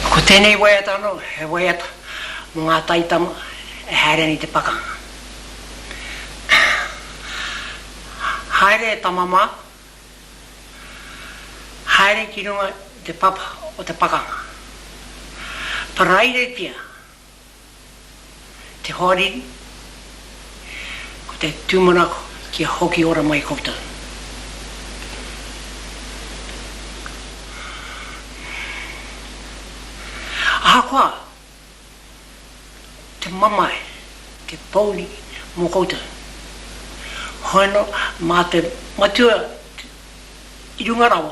Ko tēnei waiata anō he waiata mō ngā taitama e haere ana i te pakanga. Haere e tama māku, haere ki runga i te papa o te pakanga. Parairetia Te hoariri, ko te tūmanako kia hoki ora mai koutou. Ahakoa te mamae, te pouri mō koutou, hono mā te Matua i runga rawa,